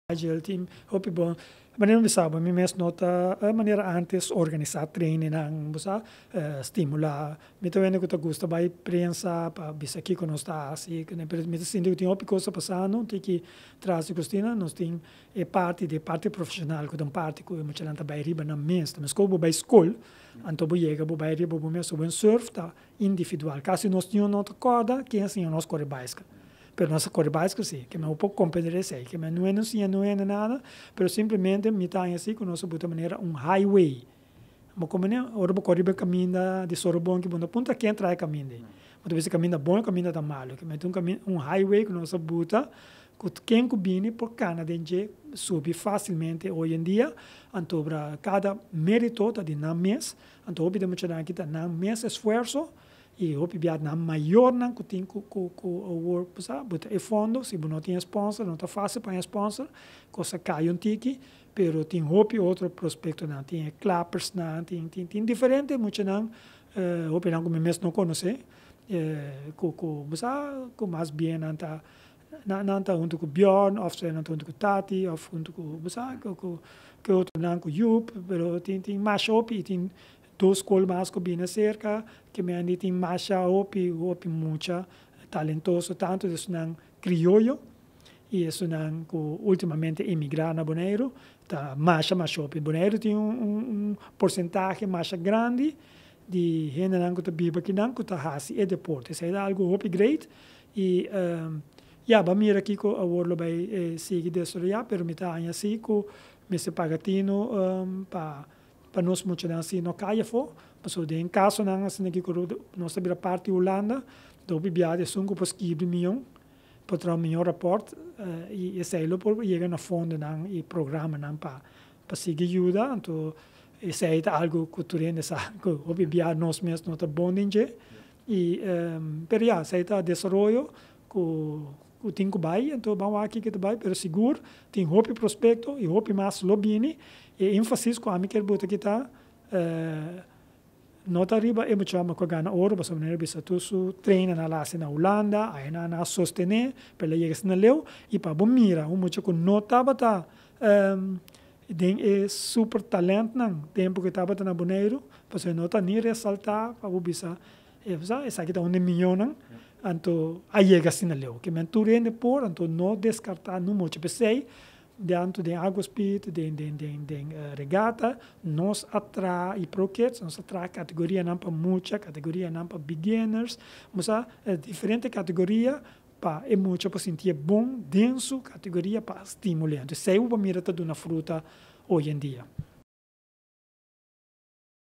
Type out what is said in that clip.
Agile team hopi bon. Manera mi bisa bo mi mes no ta e manera antes organisa trainingnan bo sa, stimula. Mi ta wende ku ta gusta bai prensa pa bisa kiko nos ta hasi i kuné pero mi ta sinti ku tin hopi kos ta pasando tin ki tras di kusina nos tin e parti di e parti profesional ku ta un parti ku e muchanan ta bai riba nan mes. Meskos bo bai skol anto bo yega bo bai riba bo mes. Buen surf ta individual. Kasi nos niño no ta kòrda ken a siña nos kore baisikl. Pero nos a kore baisikl sí. Ke men un poko komprender esei. Ke men no hende siña no hende nada, pero simplemente mi ta haña así ku nos a buta manera un highway. Bo komo ne, ora bo kòrda riba e kaminda di Sorobon ki bo no ta punta ken traha e kaminda ei. Bo ta bisa e kaminda bon o e kaminda ta malu. Ke men ta un kaminda, un highway ku nos a buta ku ken ku bini por kana den dje, subi fásilmente. Hoy en día, anto obra, kada mérito ta di nan mes. Anto hopi den muchanan aki ta nan mes esfuerso y hopi biaha nan mayornan cu tin cu cu cu awor bo sa bo ta e fondo si bo no tin e sponsor no ta facil pa haña sponsor cos ta caya un tiki pero tin hopi otro prospectonan tin e clappersnan tin tin tin diferente muchanan hopinan cu mi mes no conoce cu cu bo sa cu mas bien nan ta Nan ta huntu ku Bjorn òf nan ta huntu ku Tati òf huntu ku bo sa ku ku ke otro nan ku Joop pero tin tin masha hopi i tin dos skol mas ku bini serka ke men di tin masha hopi hopi mucha talentoso tantu di esunnan krioyo i esunnan ku ultimamente emigrá na Boneiru ta masha masha hopi Boneiru tin un un un porsentahe masha grandi di hendenan ku ta biba kinan ku ta hasi e deporte. Esei ta algu hopi great i ya bo a mira kiko awor lo bai sigui desaroyá, pero mi ta haña si ku mester paga tinu pa pa nos muchanan asina no kai afó. Pasobra den kasonan asina aki ku nos ta bira parti Hulanda, ta hopi biaha esun ku por skibri mion, por traha un mion rapòrt i esei lo por yega na fondonan i programanan pa Pa sigui yuda, anto esei ta algu ku tur hende sa ku hopi bia nos mes no ta bon den dje. I pero ya, esei ta desaroyo ku ku tin ku bai, anto ban wak kiko ta bai, pero sigur tin hopi prospekto i hopi mas lo bini. E énfasis ku ami kier bota aki ta. Nota riba e muchachnan ku a gana oro pasobra nan a revisa tur su treinnan nan a hasi na Hulanda, ayenan nan a sostené pa el a yega asina leu i pa bo mira un mucha ku no tabata den e super talèntnan tempu ku e tabata na Boneiru pasobra e no ta ni resaltá pa bo bisa esaki esaki ta un den miñonnan anto a yega asina leu kimen tur hende por anto no deskartá no mucha p'esei Diantu den Agua Spirit, den, den, den, den regata, nos a traha e Pro Kids, nos a traha categorianan pa mucha, categorianan pa beginners, nos a diferente categoria pa e mucha por sintié bon den su categoria pa a stimuliá. Entonces, esei bo mira ta duna fruta hoy en día.